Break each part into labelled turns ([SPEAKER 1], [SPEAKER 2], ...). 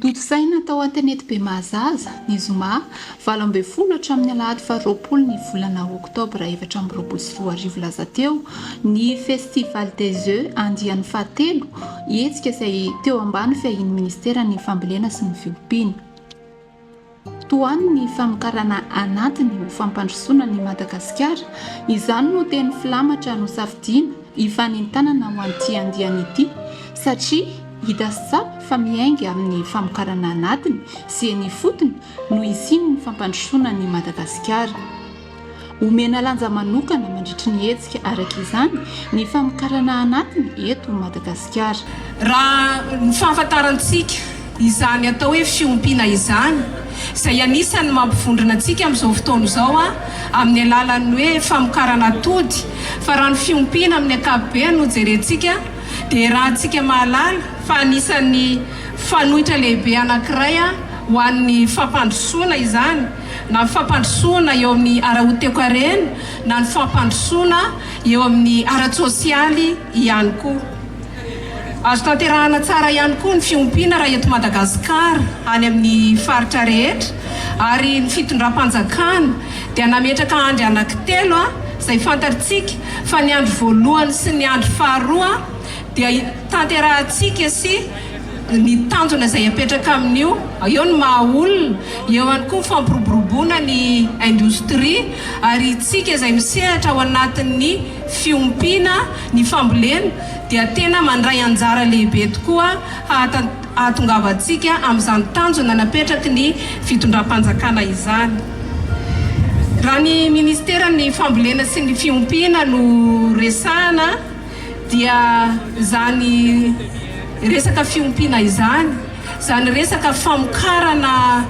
[SPEAKER 1] Tontosaina tao Atenety Bemahazaza, ny zoma valo ambin'ny folo hatramin'ny alahady faha roapolo ny volana oktobra efatra amby roapolo sy roa arivo lasa teo, ny Festival des Oeufs andiany fahatelo, hetsika izay teo ambany fiahian'ny minisiteran'ny Fambolena sy ny Fiompiana. Tohano ny famokarana anatiny ho fampandrosoana an'i Madagasikara, izany no teny filamatra nosafidiana hifanentanana ho an'ity andiany ity satria hita sy tsapa fa miainga amin'ny famokarana anatiny sy eny ifotony no hisian'ny fampandrosoana an'i Madagasikara. Omena lanja manokana mandritry ny hetsika araka izany ny famokarana anatiny eto Madagasikara. Raha
[SPEAKER 2] ny fahafantarantsika, izany atao hoe fiompiana izany, izay anisan'ny mampivondrona antsika amin'izao fotoana izao amin'ny alalan'ny hoe famokarana atody, fa raha ny fiompiana amin'ny ankapobeny no jerentsika dia iarahantsika mahalala fa anisan'ny fanoitra lehibe anankiray ho an'ny fampandrosoana izany. na ny fampandrosoana eo amin'ny ara-hoteokarena na ny fampandrosoana eo amin'ny ara-tsosialy ihany koa. Azo tanterahana tsara ihany koa ny fiompiana raha eto Madagasikara any amin'ny faritra rehetra ary ny fitondram-panjakana dia nametraka andry anankitelo izay fantatrtsika fa ny andry voalohany sy ny andry faharoa dia tanterahantsika sy ny tanjona izay apetraka amin'io, eo ny maha olona, eo ihany koa ny fampiroboroboana ny indostria ary isika izay misehatra ao anatin'ny fiompiana ny fambolena dia tena mandray anjara lehibe tokoa hahatongavantsika amin'izany tanjona napetraky ny fitondram-panjakana izany. Raha ny minisiteran'ny fambolena sy ny fiompiana no resahana, dia izany resaka fiompiana izany, izany resaka famokarana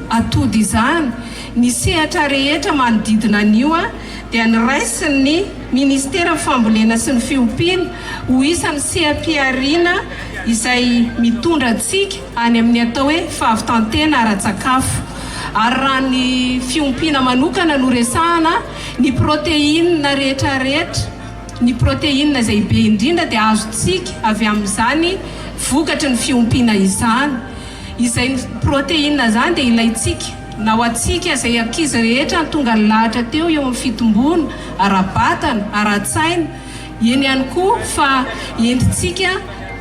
[SPEAKER 2] atody izany, ny sehatra rehetra manodidina an'io dia noraisin'ny Minisiteran'ny Fambolena sy ny Fiompiana ho isan'ny seha-pihariana izay mitondra antsika any amin'ny atao hoe fahavitan-tena ara-tsakafo. Ary raha ny fiompiana manokana no resahana, ny protéine rehetrarehetra Ny protéine izay be indrindra dia azontsika avy amin'izany vokatry ny fiompiana izany. Izany protéine izany dia ilaintsika na ho antsika izay ankizy rehetra tonga nilahatra teo eo amin'ny fitomboana ara-batana, ara-tsaina, eny ihany koa fa entintsika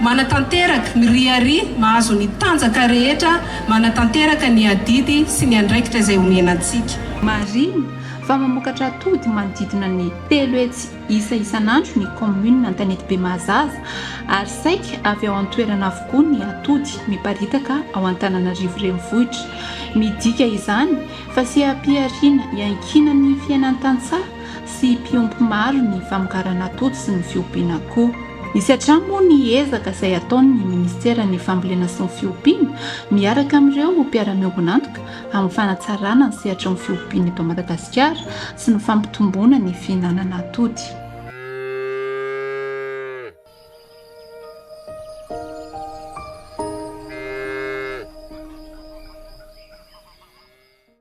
[SPEAKER 2] manatanteraka ny riari mahazo ny tanjaka rehetra manatanteraka ny adidy sy ny andraikitra izay omena antsika. Marihina
[SPEAKER 1] fa mamokatra atody manodidina ny. Telo hetsy isa isan'andro ny kaominina Antanetibe Mahazaza ary saika avy ao an-toerana avokoa ny atody miparitaka ao Antananarivo Renivohitra. Midika izany fa seha-pihariana iankiana ny fiainan-tantsaha sy mpiompy maro ny famokarana atody sy ny fiompiana koa. Misy hatrany moa ny ezaka izay ataon'ny minisiteran'ny Fambolena sy ny Fiompiana miaraka amin'ireo mpiara-miombon'antoka amin'ny fanatsarana ny sehatry ny fiompiana eto Madagasikara sy ny fampitomboana ny fihinanana atody.